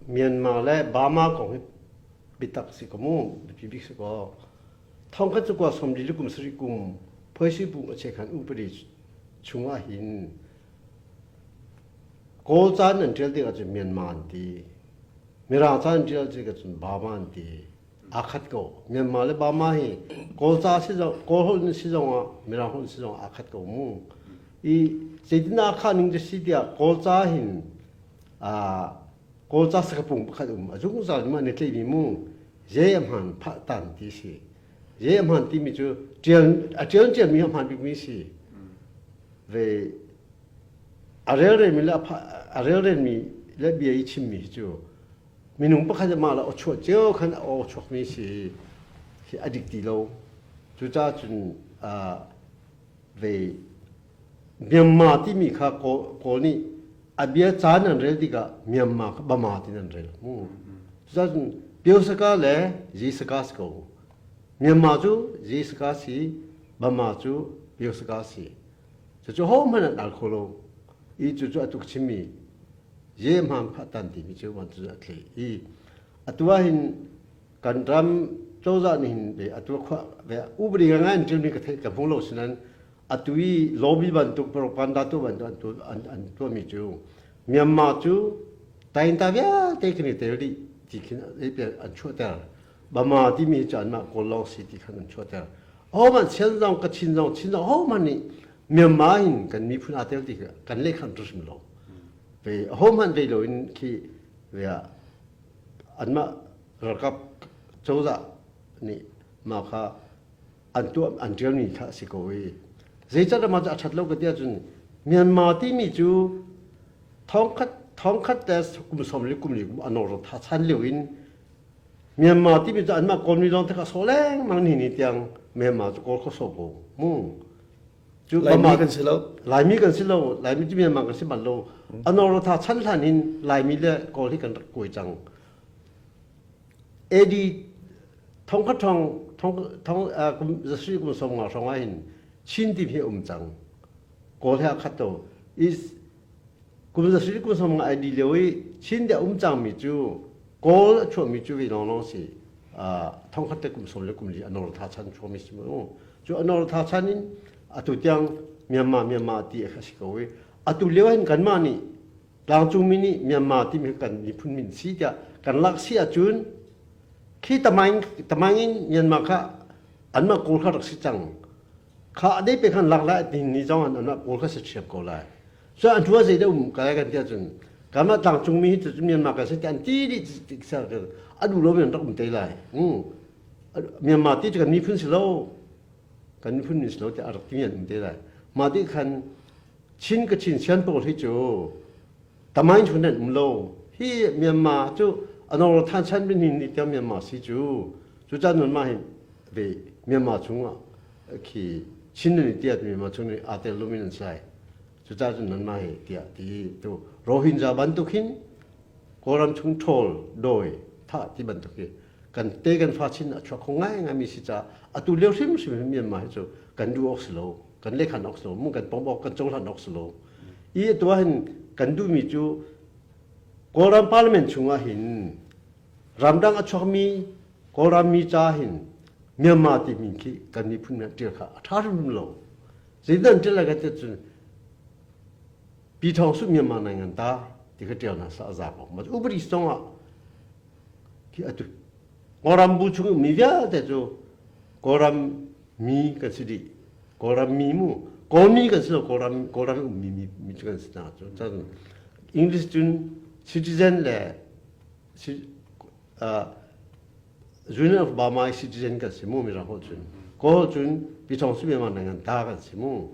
Myanmar le Burma kong hi biatak si ka mu, biapi bik si ko. Thong khat cu kwa somdi le kum sarih kum phoisi bu a che khan upadi chung ah hin Kawl caan an ṭial ding ahcun Myanmar an ti. Mirang caan an ṭial ding ahcun Burma an ti. Aa khat ko. Myanmar le Burma hi Kawl ca si zong, Kawl holh in si zong ah Mirang holh in si zong ah aa khat ko mu. I zeitin aa khah ning cu si tiah Kawl ca hin Kawlca sakapung pakhat um a zungzal in mah ne tleimi mu je a hmaan phah tan ti si. Je a hmaan timi cu ṭial a ṭial ṭialmi a hmaan bikmi si. Ve a relrenmi le a relrenmi le bia i chimmi hi cu minung pakhat le mah le aw chuah cio khan aw chuakmi si hi a dik ti lo. Cucahcun ve Myanmar timi kha Kawl nih a bia caan an rel tikah Myanmar kha Bama ti an rel mu. Cucun Pyosaka le Zisaka si ko. Myanmar cu Zisaka si, Bama cu Pyosaka si. Cucu hohmanh an al kho lo i cucu a tuk chimmi ye hmang khahtan timi cu van cu a thlei i atu ahhin kan ram cozah nih hin ve a tuah khawh ve upadi ngai in ṭialmi ka theih ka hmu lo sinain Atu i lobby bantuk propaganda tu bantuk an an tuahmi cu Myanmar cu tainta vialte kan i tel dih ti khin an chuahter. Burma timi cu anmah kawl lawng si ti khan an chuahter. Ahohmanh Chin zong Kachin zong Chin zong ahohmanh nih Myanmar in kan miphun aa tel ti khi kan lekham hrim lo. Ve ahohmanh vei lo in khi anmah ralkap cozah nih mah kha an tuah an ṭialmi kha a si ko i zeicah mah cu a ṭhat lo ka ti ahcun Myanmar timi cu thongkhat thongkhat te kum sawm le kum li a nawrtha chan lio in Myanmar timi cu anmah kawlmi lawng thek a sawh lengmang ni ni tiang Myanmar cu kawl kho sawh ko mu cu Laimi kan si lo Laimi kan si lo Laimi cu Myanmar kan si bal lo a nawrtha chan hlan in Laimi le kawl hi kan rak kuai cang AD thongkhat thong thong zasui kum som nga hrawng ah hin Chin team hi um cang kawl he khat to is kum zasui kum som nga ID leo i Chin te um cang mi cu kawl a chuah mi cu vi long long si thongkhat te kum som le kum li anor tha chan chuah mi si mu cu anor tha chan in atu tiang Myanmar Myanmar ti a si ko i atu leo hin kanmah nih Tlangcungmi nih Myanmar timi hi kan miphun min si tiah kan lak si ahcun khi tamaing tamaing in Myanmar kha anmah kawl kha rak si cang kha adei pe khan lak lai ti ni zong an anmah kawl kha si thiam ko lai so an hua zei deh um ka lai kan ti ahcun kanmah tlangcungmi hi cucu Myanmar kan si ti an ti dih ti sa a duh lo in rak um te lai Myanmar ti cu kan miphun si lo kan miphun min si lo tiah a rak ti in an um te lai mah ti khan Chin ka Chin sian pawl hi cu tamai cu nan um lo hi Myanmar cu anor than chan min ni te Myanmar si cu cu chan nun ma hin ve Myanmar chungah khi Chin ni tiah Myanmar chung ni ate lumin an sai cu chan nun ma hi tiah ti tu Rohingya bantuk hin Kawlram chung ṭhawl dawi tha ti bantuk hi kan te kan fa chin a chuak kho ngai ngai mi si ca atu lio hrimhrim Myanmar hi cu kan duh ok si lo kan lekhan awk silo mu kan pawmawk kan cohlan awk silo i atu ah hin kan duhmi cu kawlram parliament chungah hin ramdang a chuakmi kawlrammi ca hin Myanmar ti min khi kan miphun men ṭial kha a ṭha hrimhrim lo zeidan ṭial lai ka tiah cun pi thawng su Myanmar nai ngan ta ti ka ṭial hna sa a za ko ma uberi zong ah khi atu Kawlram bu chung ummi vialte cu Kawlram mi kan si dih. Kawlram mi mu, Kawlmi kan si lo, Kawlram Kawlram ummi mi, mi cu kan si hna cu. Cun English cun citizen le uh, Union of Burma citizen kan si mu mi ra ho cun Kawl cun pichong si memar nangan ta kan si mu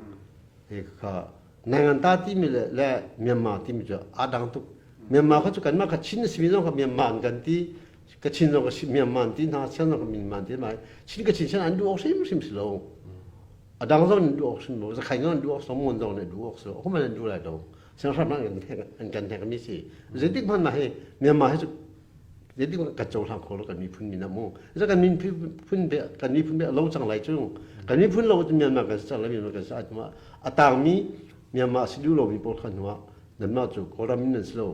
e kha nangan ta ti mi le le Myanmar ti mi cu a dang tuk Myanmar kha cu kanmah kha Chin na si mi zong kha Myanmar an kan ti ka chin zong ka si Myanmar ti hna siang zong ka Myanmar ti mai chin ka chin sian an duh hrim hrim si lo a dang zong an duh hrim lo zakhain zong an duh so mun zong ne duh so ko man an duh lai dong siang hram an an kan thek mi si zetik man ma he Myanmar he zetik ka châu hlang kho lo kan mi phun mi na mu za kan mi phun be kan mi phun be lo chang lai chung kan mi phun lo Myanmar kan sa la Myanmar kan sa atma atang mi Myanmar si du lo mi pol khan wa nan ma chu koram nan si lo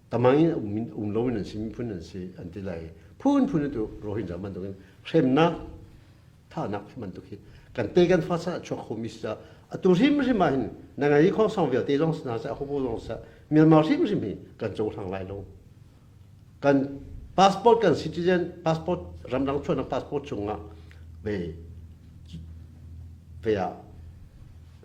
tamang in um lo in an si miphun an si an ti lai phunphun tu rohingya bantuk in hremnak thahnak bantuk hi kan te kan fa sa chuak khomi sa atu rim rim ah hin na ngai khong song vialte zong na sa hobo zong sa Myanmar rim rim hi kan co hlang lai lo kan passport kan citizen passport ramdang chuan passport chungah ve ve ah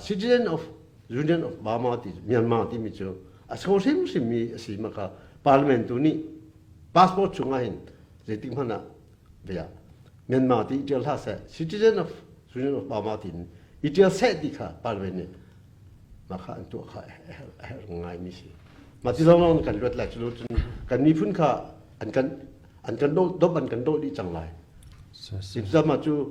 Citizen of Union of Burma ti Myanmar timi cu a so hrimhrim mi a si ma kha parliament tu nih passport chung ah hin zeitik hmanh ah bia Myanmar ti itial hlah seh Citizen of Union of Burma ti in itial seh ti kha parliament nih ma kha an tuah kha a herh ngai mi si ma ti zong lawng kan luat lai cu cun kan miphun kha an kan an kan doh domh an kan doh dih cang lai. If zama cu